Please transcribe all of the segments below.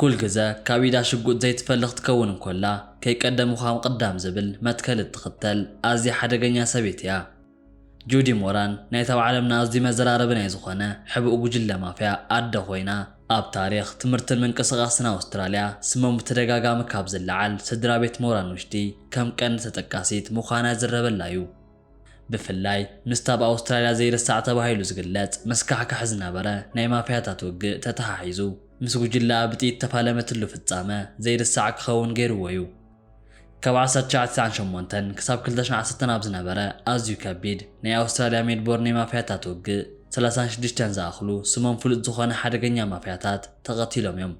ኩል ግዘ ካብ ኢዳ ሽጉጥ ዘይትፈሊ ክትከውን እንኮላ ከይቀደምኹ ኣምቕዳም ዝብል መትከል እትኽተል ኣዝያ ሓደገኛ ሰበይቲ እያ ጁዲ ሞራን ናይቲ ኣብ ዓለምና ኣዝዩ መዘራረቢ ናይ ዝኾነ ሕቡእ ጉጅለ ማፍያ ኣደ ኮይና ኣብ ታሪኽ ትምህርትን ምንቅስቓስን ኣውስትራልያ ስሞም ብተደጋጋሚ ካብ ዝለዓል ስድራቤት ሞራን ውሽጢ ከም ቀንዲ ተጠቃሲት ምዃና ይዝረበላ እዩ። ብፍላይ ምስቲ ኣብ ኣውስትራልያ ዘይርሳዕ ተባሂሉ ዝግለጽ መስካሕካሒ ዝነበረ ናይ ማፍያታት ውግእ ተተሓሒዙ ምስ ጉጅለኣ ብጥይት እተፋለመትሉ ፍጻመ ዘይርሳዕ ክኸውን ገይሩዎ'ዩ። ካብ ዓሰርተ ትሽዓተ ትስዓን ሸሞንተን ክሳብ ክልተ ሽሕ ዓሰርተን ኣብ ዝነበረ ኣዝዩ ከቢድ ናይ ኣውስትራልያ ሜልቦርን ናይ ማፍያታት ውግእ ሰላሳን ሽዱሽተን ዝኣኽሉ ስሞም ፍሉጥ ዝኾነ ሓደገኛ ማፍያታት ተቐቲሎም'ዮም።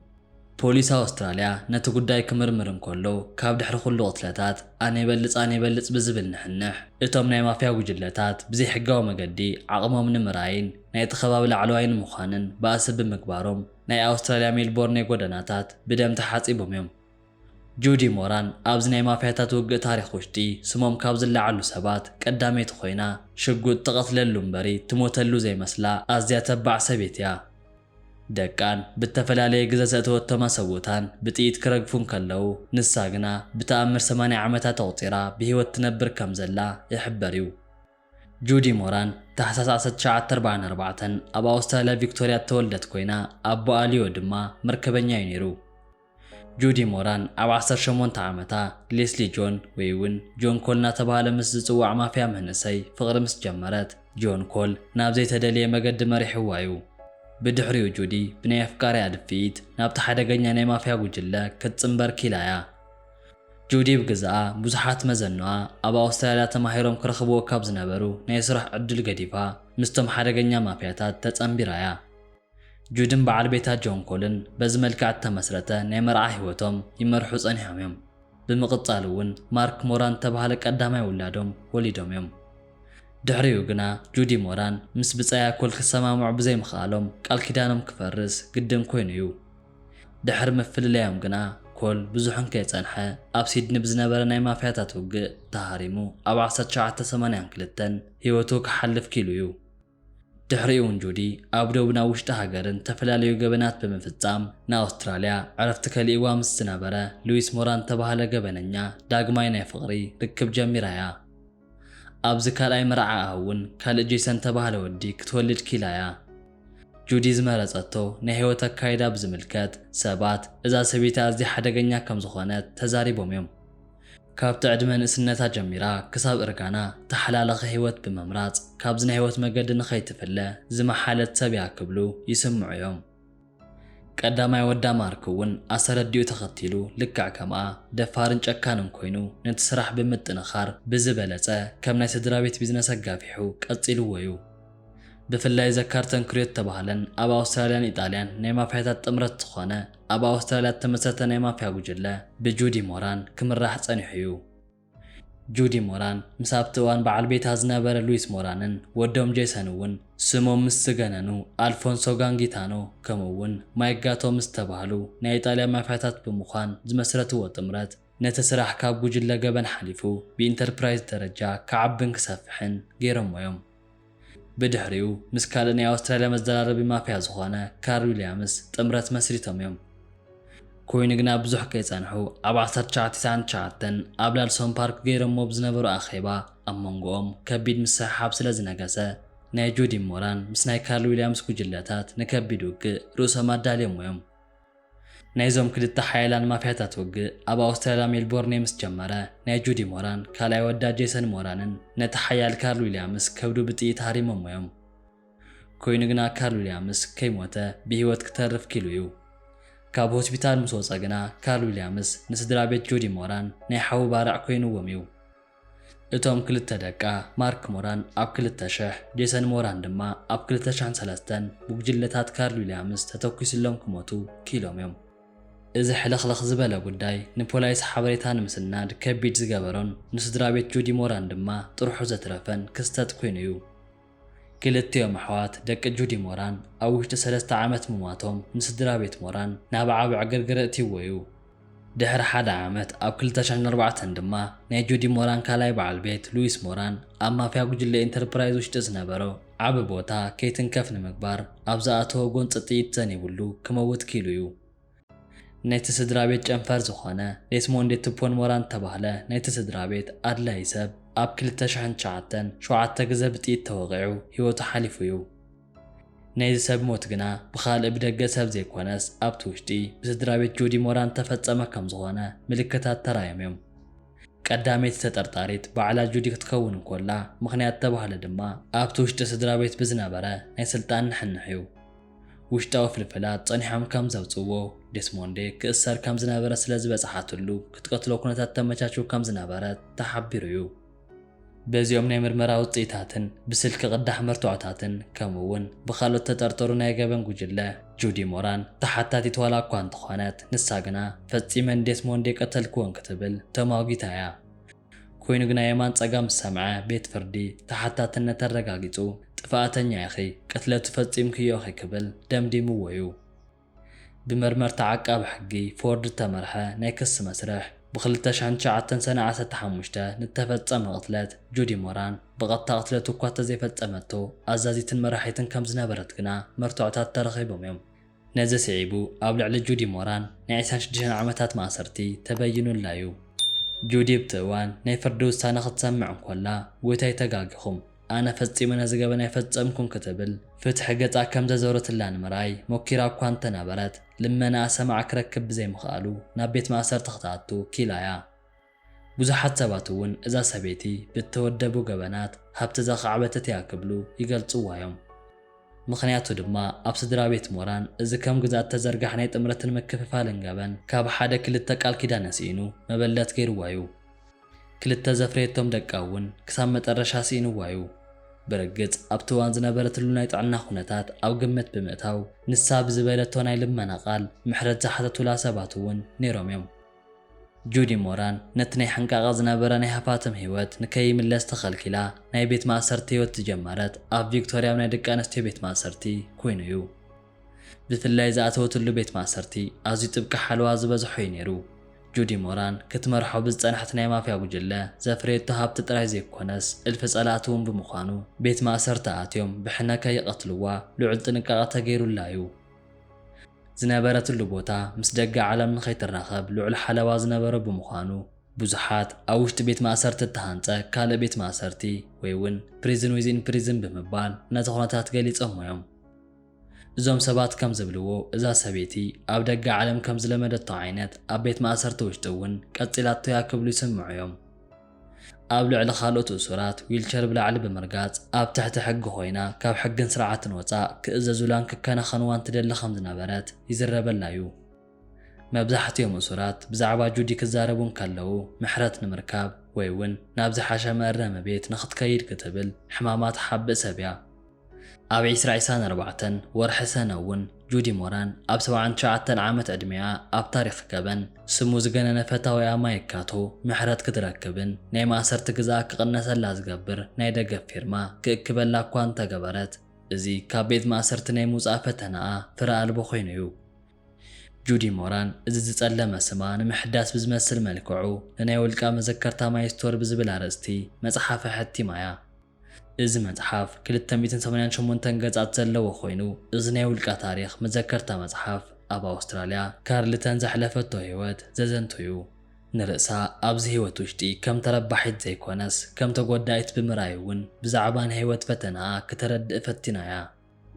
ፖሊስ ኣውስትራልያ ነቲ ጉዳይ ክምርምር እንከሎ፣ ካብ ድሕሪ ኩሉ ቅትለታት ኣነ ይበልጽ ኣነ ይበልጽ ብዝብል ንሕንሕ፣ እቶም ናይ ማፍያ ጉጅለታት ብዘይሕጋዊ መገዲ ዓቕሞም ንምርኣይን ናይቲ ከባቢ ላዕለዋይ ንምዃንን ባእሲ ብምግባሮም ናይ ኣውስትራልያ ሜልቦርኔ ጎደናታት ብደም ተሓጺቦም እዮም። ጁዲ ሞራን ኣብዚ ናይ ማፍያታት ውግእ ታሪኽ ውሽጢ ስሞም ካብ ዝለዓሉ ሰባት ቀዳመይቲ ኮይና፣ ሽጉጥ ትቐትለሉ እምበሪ ትሞተሉ ዘይመስላ ኣዝያ ተባዕ ሰብይቲ'ያ። ደቃን ብእተፈላለየ ግዘ ዘእተወቶም ኣሰብኡታን ብጥይት ክረግፉ እንከለዉ፣ ንሳ ግና ብተኣምር ሰማንያ ዓመታት ኣቝጺራ ብህይወት ትነብር ከም ዘላ ይሕበር እዩ። ጁዲ ሞራን፣ ታሕሳስ ዓሰርተ ትሽዓተ ኣርባዕን ኣርባዕተን ኣብ ኣውስትራልያ ቪክቶርያ እተወልደት ኰይና፣ ኣቦኣ ሊዮ ድማ መርከበኛ እዩ ነይሩ። ጁዲ ሞራን ኣብ ዓሰርተ ሸሞንተ ዓመታ፣ ሌስሊ ጆን ወይ እውን ጆን ኮል እናተባህለ ምስ ዝጽዋዕ ማፍያ መንእሰይ ፍቕሪ ምስ ጀመረት፣ ጆን ኮል ናብ ዘይተደልየ መገዲ መሪሕዋ እዩ። ብድሕሪኡ ጁዲ ብናይ ኣፍቃሪኣ ድፍኢት ናብቲ ሓደገኛ ናይ ማፍያ ጉጅለ ክትጽንበር ክኢላ እያ። ጁዲ ብግዝኣ ብዙሓት መዘኖኣ ኣብ ኣውስትራልያ ተማሂሮም ክረኽብዎ ካብ ዝነበሩ ናይ ስራሕ ዕድል ገዲፋ ምስቶም ሓደገኛ ማፍያታት ተጸንቢራ እያ። ጁድን በዓል ቤታ ጆን ኮልን በዚ መልክዕ እተመስረተ ናይ መርዓ ህይወቶም ይመርሑ ጸኒሖም እዮም። ብምቕጻል እውን ማርክ ሞራን እተባህለ ቀዳማይ ውላዶም ወሊዶም እዮም። ድሕሪኡ ግና ጁዲ ሞራን ምስ ብጻያ ኮል ክሰማምዑ ብዘይምኽኣሎም ቃል ኪዳኖም ክፈርስ ግድን ኰይኑ እዩ። ድሕሪ ምፍልላዮም ግና ኮል ብዙሕ እንከይጸንሐ ኣብ ሲድኒ ብዝነበረ ናይ ማፍያታት ውግእ ተሃሪሙ ኣብ ዓሰርተ ትሽዓተ ሰማንያን ክልተን ህይወቱ ክሓልፍ ክኢሉ እዩ። ድሕሪኡ'ውን ጁዲ ኣብ ዶብን ኣብ ውሽጢ ሃገርን ዝተፈላለዩ ገበናት ብምፍጻም ንኣውስትራልያ ዕረፍቲ ከሊእዋ ምስ ዝነበረ ሉዊስ ሞራን ዝተባህለ ገበነኛ ዳግማይ ናይ ፍቕሪ ርክብ ጀሚራ እያ። ኣብዚ ካልኣይ መርዓኣ'ውን ካልእ ጄሰን ዝተባህለ ወዲ ክትወልድ ክኢላ እያ። ጁዲ ዝመረጸቶ ናይ ህይወት ኣካይዳ ብዝምልከት ሰባት እዛ ሰበይቲ ኣዝያ ሓደገኛ ከም ዝኾነት ተዛሪቦም እዮም። ካብቲ ዕድመ ንእስነታ ጀሚራ ክሳብ እርጋና ተሓላላኺ ህይወት ብምምራጽ ካብዚ ናይ ህይወት መገዲ ንኸይትፍለ ዝመሓለት ሰብ እያ ክብሉ ይስምዑ እዮም። ቀዳማይ ወዳ ማርክ እውን ኣሰረዲኡ ተኸቲሉ ልክዕ ከምኣ ደፋርን ጨካንን ኮይኑ ነቲ ስራሕ ብምጥንኻር ብዝበለጸ ከም ናይ ስድራቤት ቢዝነስ ኣጋፊሑ ቀጺልዎ እዩ። ብፍላይ ዘካርተን ክርዮ እተባህለን ኣብ ኣውስትራልያን ኢጣልያን ናይ ማፍያታት ጥምረት ዝኾነ ኣብ ኣውስትራልያ እተመስረተ ናይ ማፍያ ጉጅለ ብጁዲ ሞራን ክምራሕ ጸኒሑ እዩ። ጁዲ ሞራን ምስ ኣብቲ እዋን በዓል ቤታ ዝነበረ ሉዊስ ሞራንን ወዶም ጄሰን እውን ስሞም ምስ ዝገነኑ ኣልፎንሶ ጋንጊታኖ ከምኡ እውን ማይክ ጋቶ ምስ ዝተባህሉ ናይ ኢጣልያ ማፍያታት ብምዃን ዝመስረትዎ ጥምረት ነቲ ስራሕ ካብ ጉጅለ ገበን ሓሊፉ ብኢንተርፕራይዝ ደረጃ ክዓብን ክሰፍሕን ገይሮሞ እዮም። ብድሕሪኡ ምስ ካልእ ናይ ኣውስትራልያ መዘራረቢ ማፍያ ዝኾነ ካር ዊልያምስ ጥምረት መስሪቶም እዮም። ኮይኑ ግና ብዙሕ ከይጸንሑ ኣብ ዓሰርተ ትሽዓተ ሰዓን ትሽዓተን ኣብ ላልሶን ፓርክ ገይሮሞ ብዝነበሩ ኣኼባ ኣብ መንጎኦም ከቢድ ምስሕሓብ ስለ ዝነገሰ ናይ ጁዲ ሞራን ምስ ናይ ካርል ዊልያምስ ጉጅለታት ንከቢድ ውግእ ርእሶም ኣዳልዮሞ እዮም። ናይዞም ክልተ ሓያላን ማፍያታት ውግእ ኣብ ኣውስትራልያ ሜልቦርኔ ምስ ጀመረ፣ ናይ ጁዲ ሞራን ካልኣይ ወዳ ጄሰን ሞራንን ነቲ ሓያል ካርል ዊልያምስ ከብዱ ብጥይት ሃሪሞሞ እዮም። ኮይኑ ግና ካርል ዊልያምስ ከይሞተ ብህይወት ክተርፍ ክኢሉ እዩ። ካብ ሆስፒታል ምስ ወጸ ግና ካርል ዊልያምስ ንስድራቤት ጁዲ ሞራን ናይ ሓዊ ባርዕ ኮይኑዎም እዩ። እቶም ክልተ ደቃ፣ ማርክ ሞራን ኣብ ክልተ ሽሕ፣ ጄሰን ሞራን ድማ ኣብ ክልተ ሽሕን ሰለስተን፣ ብጉጅለታት ካርል ዊልያምስ ተተኲሱሎም ክሞቱ ክኢሎም እዮም። እዚ ሕልኽልኽ ዝበለ ጉዳይ ንፖላይስ ሓበሬታ ንምስናድ ከቢድ ዝገበሮን ንስድራቤት ጁዲ ሞራን ድማ ጥርሑ ዘትረፈን ክስተት ኰይኑ እዩ። ክልቲኦም ኣሕዋት ደቂ ጁዲ ሞራን ኣብ ውሽጢ ሰለስተ ዓመት ምሟቶም ንስድራቤት ሞራን ናብ ዓቢ ዕግርግር እእትይዎ'ዩ። ድሕሪ ሓደ ዓመት ኣብ ክልተ ሽሕን ኣርባዕተን ድማ ናይ ጁዲ ሞራን ካልኣይ በዓል ቤት ሉዊስ ሞራን ኣብ ማፍያ ጉጅለ ኢንተርፕራይዝ ውሽጢ ዝነበሮ ዓቢ ቦታ ከይትንከፍ ንምግባር ኣብ ዝኣተዎ ጎንጺ ጥይት ዘኒብሉ ክመውት ክኢሉ'ዩ። ናይቲ ስድራቤት ጨንፈር ዝኾነ ዴስሞንዴ ቱፖን ሞራን እተባህለ ናይቲ ስድራቤት ኣድላዪ ሰብ ኣብ ክልተ ሽሕን ትሽዓተን ሸውዓተ ግዘ ብጥይት ተወቒዑ ህይወቱ ሓሊፉ እዩ። ናይዚ ሰብ ሞት ግና ብኻልእ ብደገ ሰብ ዘይኮነስ ኣብቲ ውሽጢ ብስድራቤት ጆዲ ሞራን እተፈፀመ ከምዝኾነ ምልክታት ተራእዮም እዮም። ቀዳመይቲ ተጠርጣሪት ባዕላ ጁዲ ክትከውን እንኮላ ምኽንያት እተባህለ ድማ ኣብቲ ውሽጢ ስድራቤት ብዝነበረ ናይ ስልጣን ንሕንሕ እዩ። ውሽጣዊ ፍልፍላት ጸኒሖም ከም ዘውጽእዎ፣ ዴስሞንዴ ክእሰር ከም ዝነበረ ስለ ዝበጽሓትሉ ክትቀትሎ ኩነታት ተመቻችው ከም ዝነበረ ተሓቢሩ'ዩ። በዚኦም ናይ ምርመራ ውጽኢታትን ብስልኪ ቅዳሕ መርትዖታትን ከምኡ'ውን ብኻልኦት ተጠርጠሩ ናይ ገበን ጉጅለ፣ ጁዲ ሞራን ተሓታቲት ዋላ'ኳ እንተኾነት፣ ንሳ ግና ፈጺመ ንዴስሞንዴ ቀተልክዎ እንክትብል ተሟጊታ'ያ። ኮይኑ ግና የማን ጸጋም ዝሰምዐ ቤት ፍርዲ ተሓታትነት ኣረጋጊጹ ጥፋኣተኛ ኢኺ፣ ቅትለቱ ፈጺምክዮ ኢኺ ክብል ደምዲምዎ'ዩ። ብመርመርታ ዓቃቢ ሕጊ ፎርድ ዝተመርሐ ናይ ክሲ መስርሕ፣ ብ ክልተ ሽሕን ትሽዓተን ሰነ ዓሰርተ ሓሙሽተ ንዝተፈጸመ ቅትለት ጁዲ ሞራን፣ ብቐጥታ ቅትለቱ እኳ እንተዘይፈጸመቶ ኣዛዚትን መራሒትን ከምዝነበረት ግና መርትዖታት ተረኺቦም'ዮም። ነዚ ስዒቡ ኣብ ልዕሊ ጁዲ ሞራን ናይ ዕስራን ሽዱሽተን ዓመታት ማእሰርቲ ተበይኑላ'ዩ። ጁዲ ኣብቲ እዋን ናይ ፍርዲ ውሳነ ክትሰምዕ እንኮላ፣ ጎይታይ ተጋጊኹም፣ ኣነ ፈጺመ ነዚ ገበን ኣይፈጸምኩን ክትብል ፍትሒ ገጻ ከም ዘዞረትላ ንምርኣይ ሞኪራ እኳ እንተ ነበረት፣ ልመናኣ ሰማዒ ክረክብ ብዘይምኽኣሉ ናብ ቤት ማእሰርቲ ክትኣቱ ኪኢላ'ያ። ብዙሓት ሰባት እውን እዛ ሰበይቲ ብእተወደቡ ገበናት ሃብቲ ዘኻዕበተት እያ ክብሉ ይገልጽዋ እዮም። ምኽንያቱ ድማ ኣብ ስድራ ቤት ሞራን እዚ ከም ግዝኣት እተዘርጋሕ ናይ ጥምረትን ምክፍፋልን ገበን ካብ ሓደ ክልተ ቃል ኪዳን ኣስኢኑ መበለት ገይርዋ እዩ። ክልተ ዘፍረየቶም ደቃ እውን ክሳብ መጠረሻ ስኢንዋ እዩ። ብርግጽ ኣብቲ እዋን ዝነበረትሉ ናይ ጥዕና ዅነታት ኣብ ግምት ብምእታው ንሳ ብዝበለቶ ናይ ልመና ቃል ምሕረት ዝሓተቱላ ሰባት እውን ነይሮም እዮም። ጁዲ ሞራን ነቲ ናይ ሕንቃቐ ዝነበረ ናይ ሃፋትም ህይወት ንከይምለስ ተኸልኪላ ናይ ቤት ማእሰርቲ ህይወት ዝጀመረት ኣብ ቪክቶርያ ኣብ ናይ ደቂ ኣንስትዮ ቤት ማእሰርቲ ኩይኑ እዩ። ብፍላይ ዝኣተወትሉ ቤት ማእሰርቲ ኣዝዩ ጥብቂ ሓለዋ ዝበዝሖ እዩ ነይሩ። ጁዲ ሞራን ክትመርሖ ብዝጸንሐት ናይ ማፍያ ጉጅለ ዘፍረየቶ ሃብቲ ጥራይ ዘይኮነስ እልፊ ጸላእቲ እውን ብምዃኑ ቤት ማእሰርቲ ኣትዮም ብሕነ ከይቐትልዋ ልዑል ጥንቃቐ ተገይሩላ እዩ። ዝነበረትሉ ቦታ ምስ ደገ ዓለም ንኸይትራኸብ ልዑል ሓለዋ ዝነበሮ ብምዃኑ፣ ብዙሓት ኣብ ውሽጢ ቤት ማእሰርቲ እተሃንጸ ካልእ ቤት ማእሰርቲ ወይ ውን Prison Within Prison ብምባል ነቲ ኩነታት ገሊጾሞ እዮም። እዞም ሰባት ከም ዝብልዎ እዛ ሰበይቲ ኣብ ደገ ዓለም ከም ዝለመደቶ ዓይነት ኣብ ቤት ማእሰርቲ ውሽጢ እውን ቀጺላቶ እያ ክብሉ ይስምዑ እዮም። ኣብ ልዕሊ ካልኦት እሱራት ዊልቸር ብላዕሊ ብምርጋጽ፣ ኣብ ትሕቲ ሕጊ ኮይና ካብ ሕግን ስርዓትን ወጻእ ክእዘዙላን ክከናኸንዋን ትደሊ ከም ዝነበረት ይዝረበላ'ዩ። መብዛሕቲኦም እሱራት ብዛዕባ ጁዲ ክዛረቡ እንከለዉ ምሕረት ንምርካብ ወይ'ውን ናብ ዝሓሸ መእረሚ ቤት ንኽትከይድ ክትብል ሕማማ ትሓብእ ሰብ'ያ። ኣብ ዕስራ ዕሳን ኣርባዕተን ወርሒ ሰነ እውን ጁዲ ሞራን ኣብ ሰብዓን ትሽዓተን ዓመት ዕድሜኣ ኣብ ታሪኽ ገበን ስሙ ዝገነነ ፈታዊኣ ማይክ ካቶ ምሕረት ክትረክብን ናይ ማእሰርቲ ግዝኣ ክቕነሰላ ዝገብር ናይ ደገፍ ፊርማ ክእክበላ እኳ እንተገበረት እዚ ካብ ቤት ማእሰርቲ ናይ ምውጻእ ፈተነኣ ፍረ ኣልቦ ኮይኑ እዩ። ጁዲ ሞራን እዚ ዝጸለመ ስማ ንምሕዳስ ብዝመስል መልክዑ ንናይ ውልቃ መዘከርታ ማይ ስቶር ብዝብል ኣርእስቲ መጽሓፈ ኣሐቲማ እያ። እዚ መጽሓፍ ክልተ ሚእትን ሰማንያን ሸሞንተን ገጻት ዘለዎ ኮይኑ፣ እዚ ናይ ውልቃ ታሪኽ መዘከርታ መጽሓፍ ኣብ ኣውስትራልያ ካርልተን ዘሕለፈቶ ህይወት ዘዘንቱ'ዩ። ንርእሳ ኣብዚ ህይወት ውሽጢ ከም ተረባሒት ዘይኮነስ ከም ተጎዳኢት ብምርኣይ'ውን ብዛዕባ ናይ ህይወት ፈተናኣ ክተረድእ ፈቲና'ያ።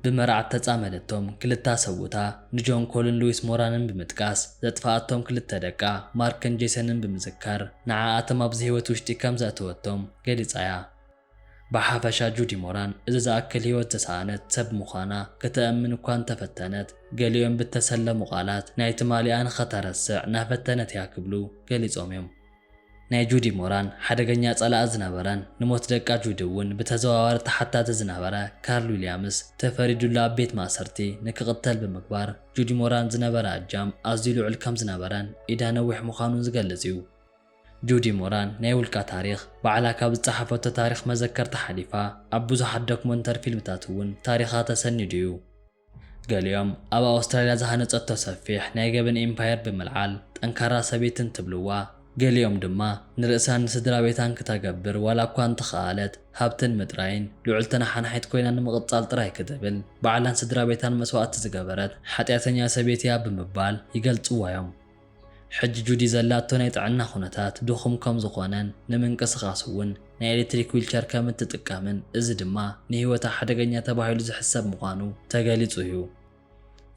ብመርዓ እተጻመደቶም ክልታ ሰብኡታ ንጆን ኮልን ሉዊስ ሞራንን ብምጥቃስ፣ ዘጥፍኣቶም ክልተ ደቃ ማርክን ጄሰንን ብምዝካር፣ ንዓኣቶም ኣብዚ ህይወት ውሽጢ ከም ዘእተወቶም ገሊጻ እያ። ብሓፈሻ ጁዲ ሞራን እዚ ዝኣክል ህይወት ዝሰኣነት ሰብ ምዃና ከተእምን እኳ እንተ ፈተነት፣ ገሊኦም ብእተሰለሙ ቓላት ናይ ትማሊኣ ንኸተረስዕ እናፈተነት እያ ክብሉ ገሊጾም እዮም። ናይ ጁዲ ሞራን ሓደገኛ ጸላኢ ዝነበረን ንሞት ደቃ ጁዲ እውን ብተዘዋዋሪ ተሓታቲ ዝነበረ ካርል ዊልያምስ ተፈሪዱሉ ኣብ ቤት ማእሰርቲ ንክቕተል ብምግባር ጁዲ ሞራን ዝነበራ እጃም ኣዝዩ ልዑል ከም ዝነበረን ኢዳ ነዊሕ ምዃኑን ዝገልጽ እዩ። ጁዲ ሞራን ናይ ውልቃ ታሪኽ ባዕላ ካብ ዝጸሓፈቶ ታሪኽ መዘከርታ ሓሊፋ ኣብ ብዙሓት ዶክመንተሪ ፊልምታት እውን ታሪኻ ተሰኒዱ እዩ። ገሊኦም ኣብ ኣውስትራልያ ዝሃነጸቶ ሰፊሕ ናይ ገበን ኢምፓየር ብምልዓል ጠንካራ ሰበይቲ እንትብልዋ፣ ገሊኦም ድማ ንርእሳን ንስድራቤታን ክተገብር ዋላ እኳ እንተኸኣለት፣ ሃብትን ምጥራይን ልዑል ተነሓናሒት ኮይና ንምቕጻል ጥራይ ክትብል ባዕላን ስድራቤታን መስዋእቲ ዝገበረት ሓጢኣተኛ ሰብየት'ያ ብምባል ይገልጽዋ'ዮም። ሕጂ ጁዲ ዘላቶ ናይ ጥዕና ዅነታት ድኹም ከም ዝዀነን ንምንቅስቓስ እውን ናይ ኤሌክትሪክ ዊልቸር ከም እትጥቀምን እዚ ድማ ንህይወታ ሓደገኛ ተባሂሉ ዝሕሰብ ምዃኑ ተገሊጹ እዩ።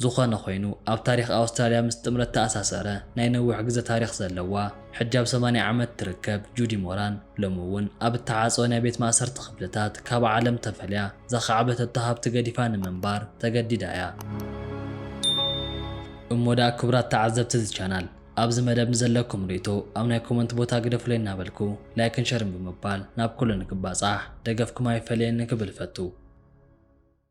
ዝዀነ ዀይኑ ኣብ ታሪኽ ኣውስትራልያ ምስ ጥምረት እተኣሳሰረ ናይ ነዊሕ ግዘ ታሪኽ ዘለዋ ሕጂ ኣብ ሰማንያ ዓመት እትርከብ ጁዲ ሞራን ሎሚ እውን ኣብ እተዓጽወ ናይ ቤት ማእሰርቲ ኽፍልታት ካብ ዓለም ተፈልያ ዘኻዕበተቶ ሃብቲ ገዲፋ ንምንባር ተገዲዳ እያ። እሞ ደኣ ክብራት ተዓዘብቲ እዚ ቻናል ኣብዚ መደብ ንዘለኩም ርእይቶ ኣብ ናይ ኮመንት ቦታ ግደፉለይ እናበልኩ ላይክን ሸርን ብምባል ናብ ኩሉ ንክባጻሕ ደገፍኩም ኣይፈለየኒ ክብል እፈቱ።